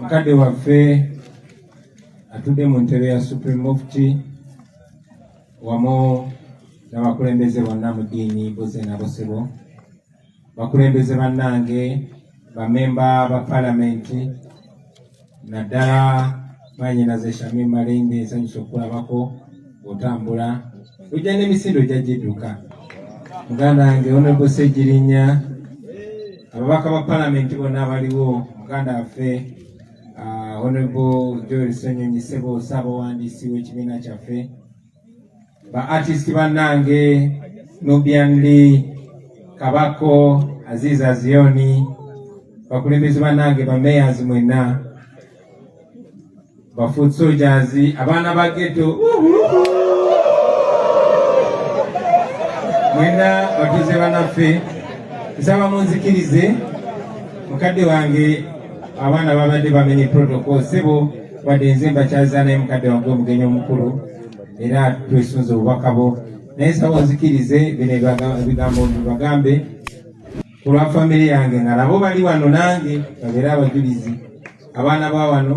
Mkade wa fee atudde mu ntebe ya Supreme Mufti wamu n'abakulembeze bonna mu ddiini boze na bosebo bakulembeze bannange bamemba ba palamenti naddala mwanyinaze Shamim Malende nsanyusa okukulabako otambula ojja n'emisinde ojja gidduka muganda wange onebo Ssegirinya ababaka ba palamenti bonna abaliwo muganda waffe Uh, Honorable Joel Ssenyonyi Ssebo ssaabawandiisi w'ekibiina kyaffe ba artist bannange Nubian Lee Kabako Aziz Azioni bakulembeze bannange ba mayors mwenna ba foot soldiers abaana ba ghetto mwenna batuuze banaffe nsaba munzikirize mukadde wange abaana babadde bamenye protocol sebo wadde nze mbakyaza naye mukadde wange omugenyi omukulu era twesunze obubaka bwo naye sawa nzikirize bino ebigambo bibagambe ku lwa famire yange nga nabo bali wano nange babeere abajulizi abaana ba wano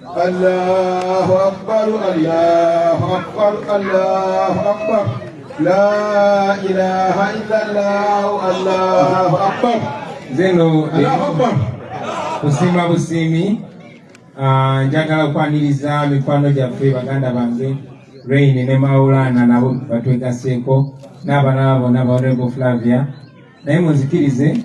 Allahu akbar Allahu akbar Allahu akbar La ilaha illallah Allahu akbar Zeno Allahu akbar Kusimba busimi ah, njagala kwaniriza mikwano gyaffe baganda bange Rain ne Maulana nabo batwegaseeko n'abalala bonna ba Honorable Flavia naye muzikirize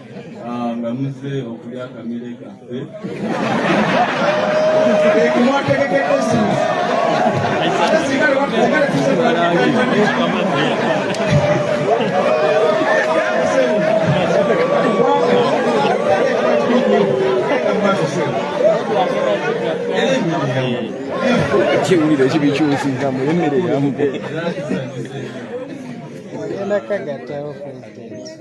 Ah, nga muzze okulya akamere kaffe kiwulire kibikyusiza mu emmere yamu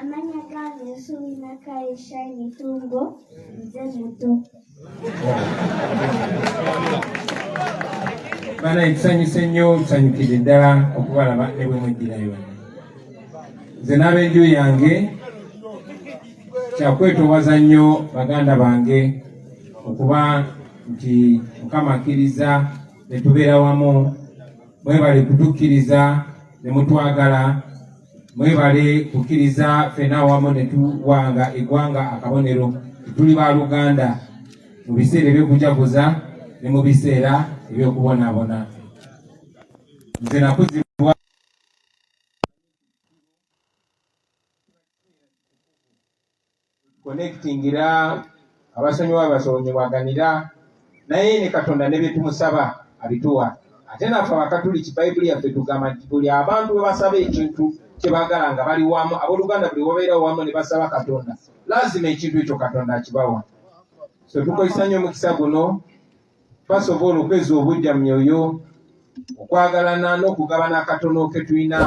amanya gange nsubi nakaye shine tumbo nze muto bana ekisanyusa ennyo tusanyukidde ddala okubalaba ne bwe mweddirayo nze n'abenju yange kyakwetowaza nnyo baganda bange okuba nti mukama akkiriza ne tubeera wamu mwebale kutukkiriza ne mutwagala mwebale kukkiriza ffena awamu ne tuwanga eggwanga akabonero tuli ba luganda mu biseera eby'okujaguza ne mu biseera eby'okubonaabona nze nakuzi connectingira abasonyiwa abasonyiwaganira naye ne katonda ne byetumusaba abituwa ate naffe abakatuliki bayibuli yaffe tugamba nti buli abantu bwebasaba ekintu kyebagala nga bali wamu aboluganda buli wabeera wamu ne basaba katonda lazima ekintu ekyo katonda akibawa so tukozesa nnyo omukisa guno twasobola okweza obujja mu myoyo okwagalana n'okugabana akatono ke tulina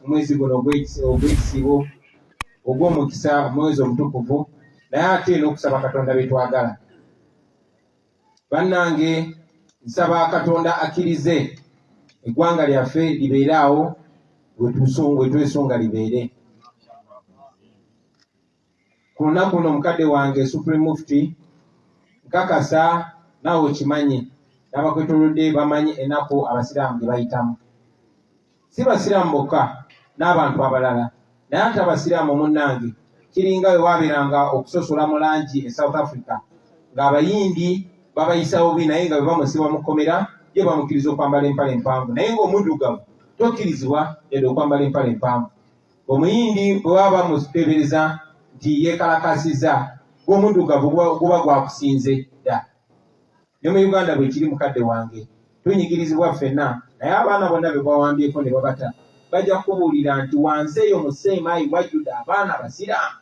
omwezi guno ogw'ekisibo ogw'omukisa omwezi omutukuvu naye ate n'okusaba katonda bye twagala bannange nsaba katonda akkirize eggwanga lyaffe libeere awo wetwesunga libeere ku lunaku luno mukadde wange supreme mufti nkakasa naawe okimanyi n'abakwetolodde bamanyi enaku abasiraamu gye bayitamu si basiraamu bokka n'abantu abalala naye ate abasiraamu munnange kiringa we waabeeranga okusosola mu langi e south africa ng'abayindi babayisa bubi naye nga bebamusiba mu kkomera ye bamukkiriza okwambala empala empanvu naye ng'omuddugavu tokkirizibwa yadde okwambala empala empanvu omuyindi bwe baba bamuteebereza nti yeekalakaasizza gw'omuddugavu guba gwakusinze dda ne mu uganda bwe kiri mukadde wange tunyigirizibwa ffenna naye abaana bonna be bawambyeko ne babata bajja kubuulira nti wansi eyo mu seemaayi wajjudde abaana abasiraamu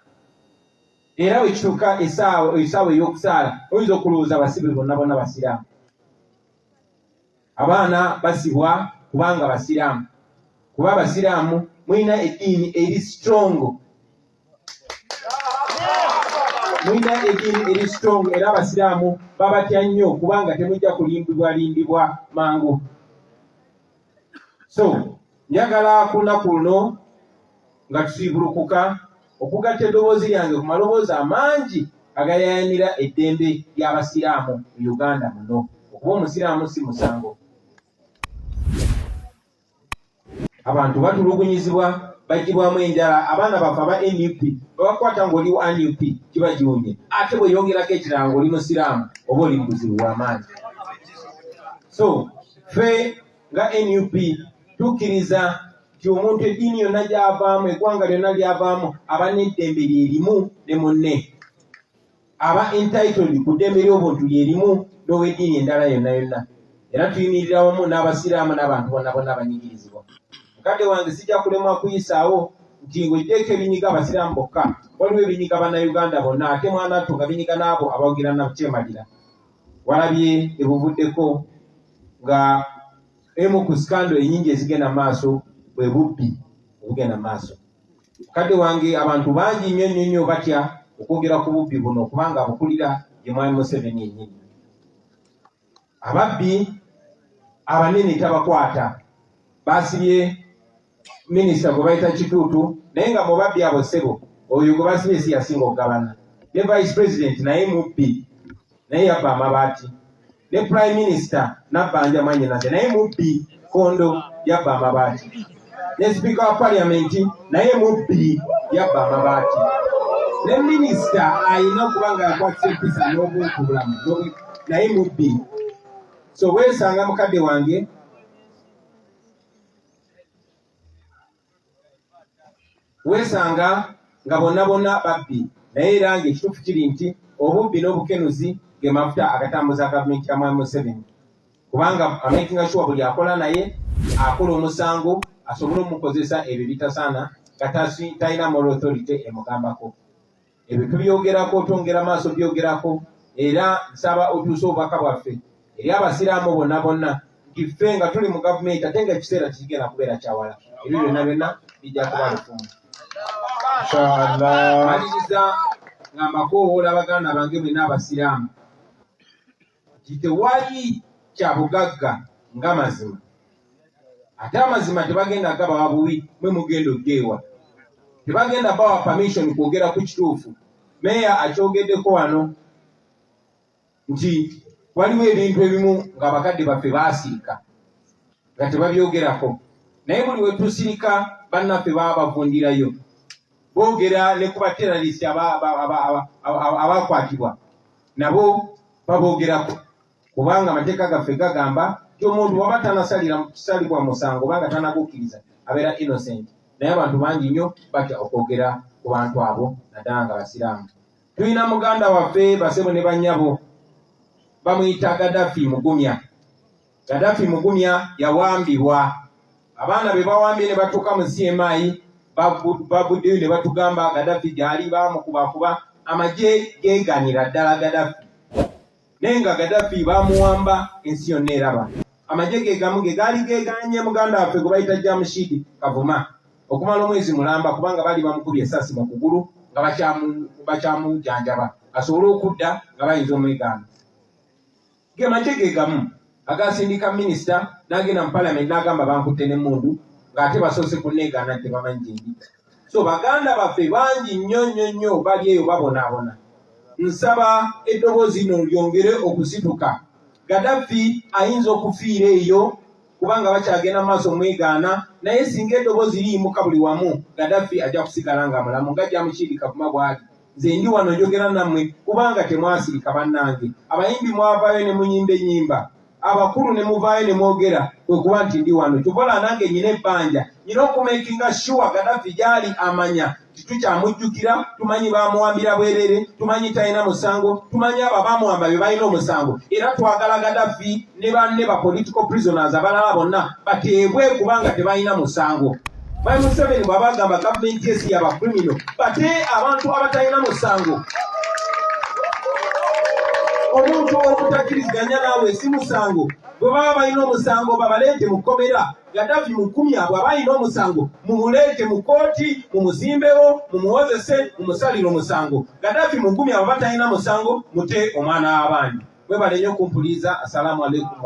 era bwe kituuka esaawa ey'okusaala oyinza okulowooza abasibe bonna bonna basiraamu abaana basibwa kubanga basiraamu kuba abasiraamu mulina eddiini eri strongo mulina eddiini eri strongo era abasiraamu babatya nnyo kubanga temujja kulimbibwalimbibwa mangu so njagala ku lunaku luno nga tusiibulukuka okugatta eddoboozi lyange ku maloboozi amangi agayayanira eddembe ly'abasiraamu mu uganda muno okuba omusiraamu si musango abantu batulugunyizibwa bagibwamu enjala abaana bafe aba nup babakwata ngaoli wa nup kiba giwunye ate bweyongerako ekirala ngaoli musiraamu oba oli mubuzibu wamaanyi so fe nga nup tukkiriza nti omuntu eddiini yonna gyavaamu eggwanga lyonna lyavaamu aba n'eddembe lye limu ne munne aba entitled ku ddembe ly'obuntu lye limu n'ow'eddiini endala yonna yonna era tuyimirira wamu n'abasiraamu n'abantu bonna bonna abanyigirizibwa mukadde wange sijja kulemwa kuyisaawo nti ng'oggyeeko ebinyiga abasiraamu bokka waliwo ebinyiga bannayuganda bonna ate mwana ttu nga binyiga n'abo abawagira nakukyemalira walabye ebuvuddeko nga emu ku sikando enyingi ezigenda maaso bwe bubbi obugenda maaso kadde wange abantu bangi nnyo nnyo nnyo batya okwogera ku bubbi buno kubanga abukulira ye mwami museveni enyini ababbi abanene tabakwata basibye minisita gwe bayita kituutu naye nga mubabbi abo ssebo oyo gwe basibye si yasinga okugabana ne vice president naye mubbi naye yabba amabaati ne prime minister nabbanja mwanyinaze naye mubbi kondo yabba amabaati ne sipiika wa parliament naye mubbi yabba amabaati ne minisita alina okuba nga yakwatisa empisa n'obuntubulamu naye mubbi so weesanga mukadde wange weesanga nga bonna bonna babbi naye era nga ekituufu kiri nti obubbi n'obukenuzi ge mafuta agatambuza gavumenti ya mwami museveni kubanga amakinga shuwa buli akola naye akola omusango asobole omukozesa ebyo bitasaana nga talina moral authority emugambako ebyo tubyogerako otwongera maaso byogerako era nsaba otuuse obubaka bwaffe eri abasiraamu bonna bonna nti ffe nga tuli mu gavumenti ate nga ekiseera kikigenda kubeera kyawala ebyo byonna byonna bijja kuba lufumu maliriza nga mbakowoola baganda bange mwena abasiraamu nti tewali kya bugagga nga mazima ate amazima tebagenda gabawa buwi mwe mugenda ogeewa tebagenda bawa permission kwogera ku kituufu meeya akyogeddeko wano nti waliwo ebintu ebimu ng'abakadde baffe baasirika nga tebabyogerako naye buli wetusirika bannaffe baba bavundirayo boogera ne ku bateralisi abakwatibwa nabo baboogerako kubanga amateeka gaffe gagamba ti omuntu waba tanasalira kisalibwa musango obanga tanagukkiriza abeera innocent naye abantu bangi nnyo batya okwogera ku bantu abo naddala nga basiraamu tulina muganda waffe basebo ne banyabo bamuyita gadafi mugumya Gaddafi Mugumya yawambibwa abaana be bawambye ne batuuka mu CMI baguddeyo ne batugamba Gaddafi gyali bamukubakuba amagye geeganira ddala Gaddafi naye nga Gaddafi bamuwamba ensi yonna eraba amagye ge gamu ge gaali geeganye muganda waffe gwe bayita Jamushid Kavuma okumala omwezi mulamba kubanga baali bamukubye esasi mu kugulu nga bakyamujanjaba asobole okudda nga bayinza omwegaana ge magye ge gamu agaasindika minisita n'agenda mu palamenti n'agamba bankutte n'emmundu ng'ate basoose kunneegaana nti tebamanyi gye ndi so baganda baffe bangi nnyo nnyo nnyo bali eyo babonaabona nsaba eddoboozi lino lyongere okusituka gadaffi ayinza okufiira eyo kubanga bakyagenda mu maaso mwegaana naye singa eddoboozi liyimuka buli wamu gadaffi ajja kusigala nga mulamu nga jyamukiirika kuma bw'ali nze ndi wano njogera nammwe kubanga temwasirika bannange abayimbi mwavaayo ne munyimba ennyimba abakulu ne muvaayo ne mwogera kwe kuba nti ndi wano kyobola nange nyina ebbanja nyina okumakinga shuwa gadafi gyali amanya titukyamujjukira tumanyi bamuwambira bwerere tumanyi talina musango tumanyi abo abamuwamba be balina omusango era twagala gadafi ne banne ba political prisoners abalala bonna bateebwe kubanga tebalina musango my museveni bwaba agamba gavumenti esi yaba criminal bate abantu abatalina musango omuntu okutakiriziganya naawe si musango bwe baba balina omusango babaleete mu kkomera Gaddafi mukumi abo abalina omusango mumuleete mu kkooti mumuzimbewo mumuwozese mumusalire omusango Gaddafi mukumi abo batalina musango mute omwana w'abandi mwebalenyo kumpuliza assalamu alaikum